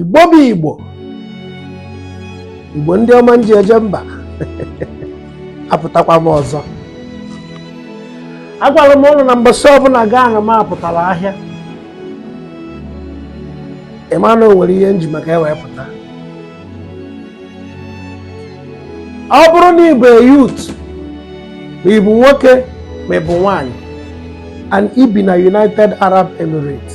igbo bụ igbo igbo ndị ọma nji eje mba apụtakwa m ọzọ agwara m ụnụ na mbọsị ọbụla gaa na m apụtara ahịa ịma na o nwere ihe nji maka e wee pụta ọ bụrụ na ịbụ a youth ma ịbụ nwoke ma ịbụ nwanyị and i bi na United Arab Emirates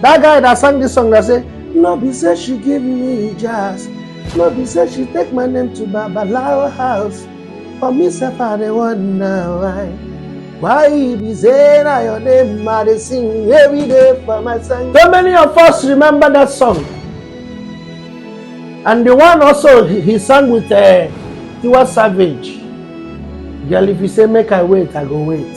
That guy that sang this song that say, No be say she give me jazz, no be say she take my name to Babalawo house. For me, sef, I dey wonder why. Why e be say na your name I dey sing every day for my song? So many of us remember that song. And the one also he, he sang with uh, Tiwa Savage. Girl, if you say make I wait, I go wait.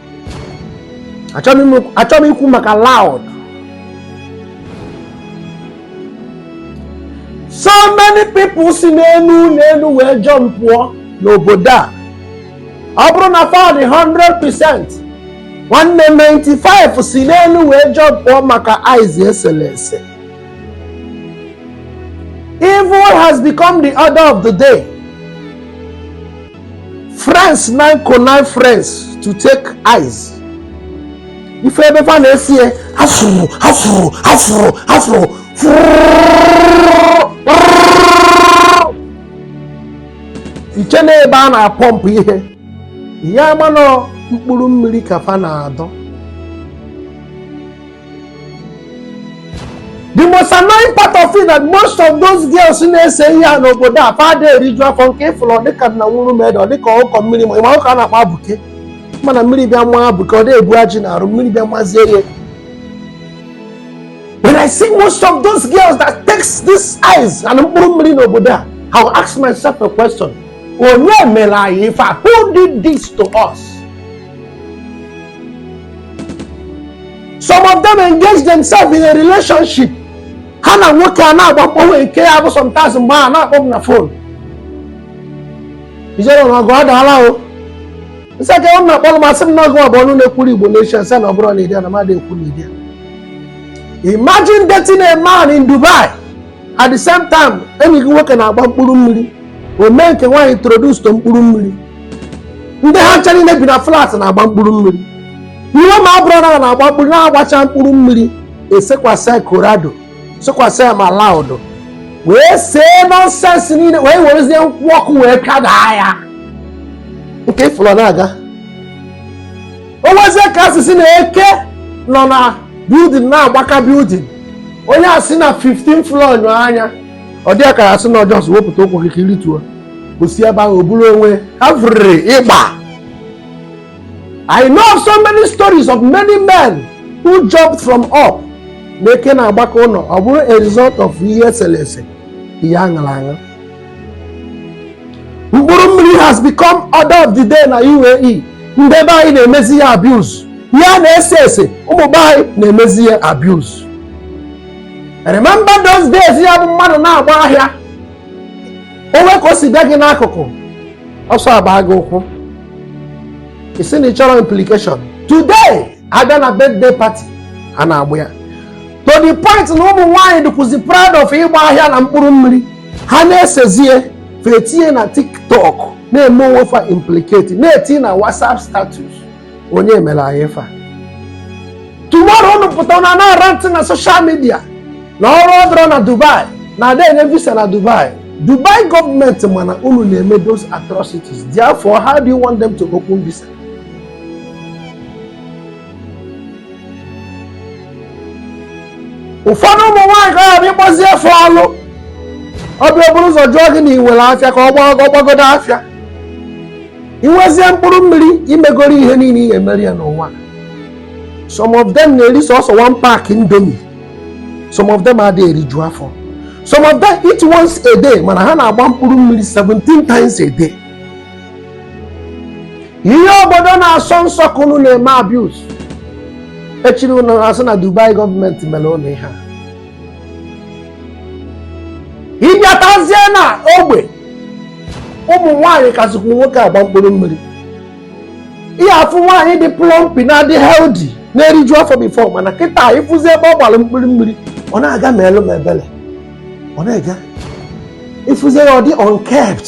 achọ m ikwu maka loud so many people si n'enu n'enu wee jump pụọ n'obodo a ọ bụrụ na fa dị 100% nwanne 95 si n'enu wee jump pụọ maka ice esele ese evil has become the order of the day friends now connive friends to take ice ị fụ ebe fa na-ese ya afụrụ afụrụ afụrụ afụrụ iche na ebe a na-apọmpụ ihe ihe ama na ọ mkpụrụ mmiri ka fa na-adọ the most annoying part of it that most of those girls na-ese ihe a n'obodo a fa ada eriju afọ nke ịfụrụ ọdịka na nwụrụ meda ọdịka ọkụkọ mmiri ma ịma ọkụkọ a na-akpọ abuke mana mmiri bịa maa abuke ọ da-ebu ajị n'arụ mmiri bịa mazie ya when i see most of those girls that takes this ice and mkpụrụ mmiri n'obodo a i will ask myself a question onye mere anyị ife a who did this to us some of them engage themselves in a relationship ha na nwoke a na-agba mkpọnwe nke ya bụ sometimes mgbe a na-akpọ m na phone Ijele na ọgụ adaala o nsị aka ọ na-akpọrọ m asị m na ọgụ ọ bụ ọnụ na-ekwuru igbo nation sị na ọ bụrụ na ịdị na mmadụ ekwu na ịdị imagine dating a man in dubai at the same time enyi gị nwoke na-agba mkpụrụ mmiri o mee nke nwaanyị introduce to mkpụrụ mmiri ndị ha ncha niile bi na flat na-agba mkpụrụ mmiri ihe ma ọ bụrụ na na-agba mkpụrụ na-agbacha mkpụrụ mmiri esekwasị ya colorado sekwasị ya ma loud wee see nonsense niile wee werezie nkwụ ọkụ wee kadaa ya nke ịfụlụ na-aga o nwezie ka asị sị na eke nọ na building na-agbaka building onye esi na 15 floor nyo anya ọ dị ka asị na ọ just wepụta ụkwụ gị ka i rituo o si ebe ahụ o buru onwe every ịgba I know of so many stories of many men who jumped from up na eke na-agbaka ụlọ ọ bụrụ a result of ihe esele ese ihe aṅala aṅa mkpụrụ mmiri has become order of the day na UAE ndị be anyị na-emezi ya abuse ya na-ese ese ụmụ be anyị na-emezi ya abuse remember those days ya bụ mmadụ na-agba ahịa o nwe ka o si bịa gị n'akụkụ ọsọ agba gị ụkwụ ị sị na ị chọrọ implication today abịa na birthday party a na-agba ya to the point na ụmụ nwaanyị dịkwuzi proud of ịgba ahịa na mkpụrụ mmiri ha na-esezie fa etinye na tiktok na-eme onwe fa implicate na-eti na whatsapp status onye mere anyị fa tomorrow unu pụta na na-arant na social media na ọrụ adịrọ na dubai na a da enye visa na dubai dubai government mana unu na-eme those atrocities therefore how do you want them to open visa ụfọdụ ụmụ nwaanyị ka ha bụ ị kpọzie fa ọlụ ọ bịa o buru ụzọ jụọ gị na i nwere afịa ka ọ gbagodo afịa i nwezie mkpụrụ mmiri i megoro ihe niile ị ga-emeri ya n'ụwa some of them na-eri sọsọ one pack indomie some of them adịghị eriju afọ some of them eat once a day mana ha na-agba mkpụrụ mmiri 17 times a day ihe obodo na-asọ nsọ ka unu na-eme abuse echiri unu asị na Dubai government mere unu ihe a ị bịatazie na ogbe ụmụ nwaanyị kasịkwu nwoke agba mkpụrụ mmiri ị ya-afụ nwaanyị dị plumpy na-adị healthy na-eriju afọ before mana kịta ị fụzi ebe ọ gbara mkpụrụ mmiri ọ na-aga ma elu ma ebele ọ na-eje ị fụzie ya ọ dị unkept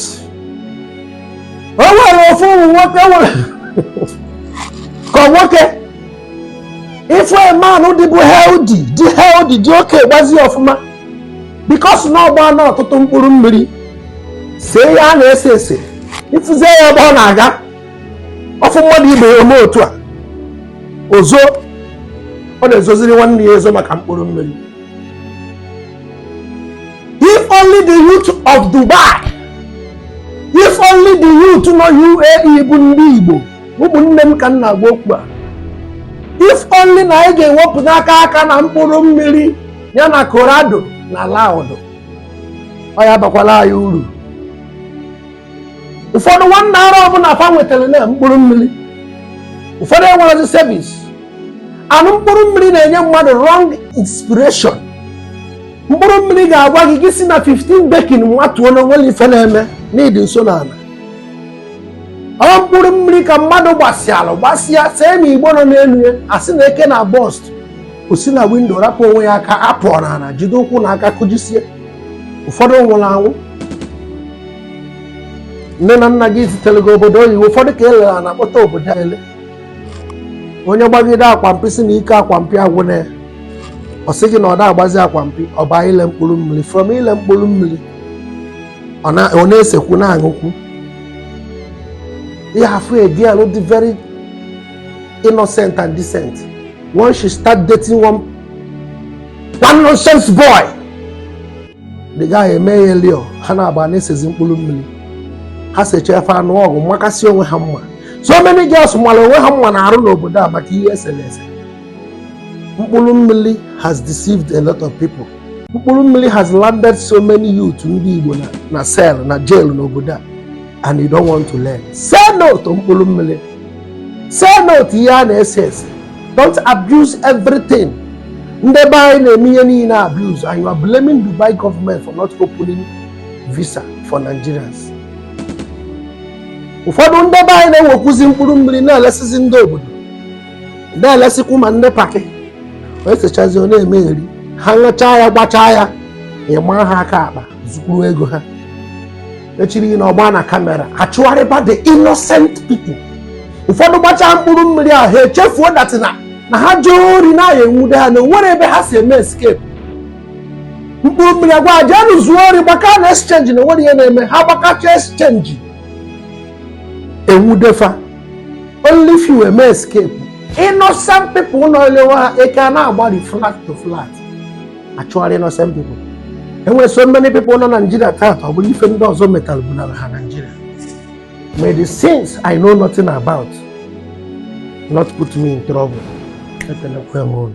o nwere ofu ụmụ nwoke nwere ka nwoke ị fụ a man dịbụ healthy dị healthy dị okay gbazi ọfụma because na ọ gbaana ọtụtụ mkpụrụ mmiri see ihe a na-ese ese ị fụzie ya ebe ọ na-aga ọ fụ mmadụ ibe ya o mee otu a o zoo ọ na-ezoziri nwanne ya ezo maka mkpụrụ mmiri If only the youth of Dubai, if only the youth nọ UAE bụ ndị Igbo, ụmụnne m ka m na-agwa okwu a. If only na anyị ga-ewepụta aka aka na mkpụrụ mmiri ya na Colorado na Loud, ọ ya-abakwara anyị uru. ụfọdụ nwanne ara ọ bụ ala fa nwetara na mkpụrụ mmiri ụfọdụ enwerezi service and mkpụrụ mmiri na-enye mmadụ wrong inspiration mkpụrụ mmiri ga-agwa gị gị si na 15 decking nwatuo na onwere ife na-eme na ị dị nso n'ala ọ mkpụrụ mmiri ka mmadụ gbasịalụ gbasịa see na igbo nọ n'elu ya asị na eke na bust o si na windo rapụ onwe ya aka apụọ n'ala jide ụkwụ na aka kụjisie ụfọdụ nwụrụ anwụ nne na nna gị zitere gị obodo oyibo ụfọdụ ka e lere ana kpọta obodo ele onye gbagide akwampi si na ike akwampi agwụna ya ọ sị gị na ọ da agbazi akwampi ọ baa ile mkpụrụ mmiri from ile mkpụrụ mmiri ọ na-esekwu na-aṅụkwu ị ya-afụ a girl dị very innocent and decent once she start dating one one nonsense boy the guy emeghelie ha na-agba na-esezi mkpụrụ mmiri ha sechaa ife anụ ọgụ makasị onwe ha mma so many girls mara onwe ha mma n'arụ n'obodo a maka ihe esere ese mkpụrụ mmiri has deceived a lot of people mkpụrụ mmiri has landed so many youth ndị Igbo na cell na jail n'obodo a and you don't want to learn say no to mkpụrụ mmiri say no to ihe a na-ese ese don't abuse everything ndị be anyị na-eme ihe niile abuse and you are blaming Dubai government for not opening visa for Nigerians ụfọdụ ndị be anyị na-ewekwuzi mkpụrụ mmiri na-elesizi ndị obodo na-elesikwu ma ndị paki wee sechazi ọ na-emegheri ha ṅụchaa ya gbachaa ya ịma ha aka akpa zukwuru ego ha echiri na ọgba na camera achụgharịba the innocent people ụfọdụ gbachaa mkpụrụ mmiri ahụ ha echefuo that na na ha zuo ori na a ya-enwude ha na onwere ebe ha si eme escape mkpụrụ mmiri agwa ha jenu zuo ori gbaka na exchange na onwere ihe na-eme ha gbakacha exchange enwude fa only few eme escape innocent people nọ elewe ha eke a na-agbari flat to flat achụgharị innocent people enwere so many people nọ na Nigeria taata ọ bụrụ ife ndị ọzọ metalụ bunara ha Nigeria may the sins I know nothing about not put me in trouble ekelekwe m unu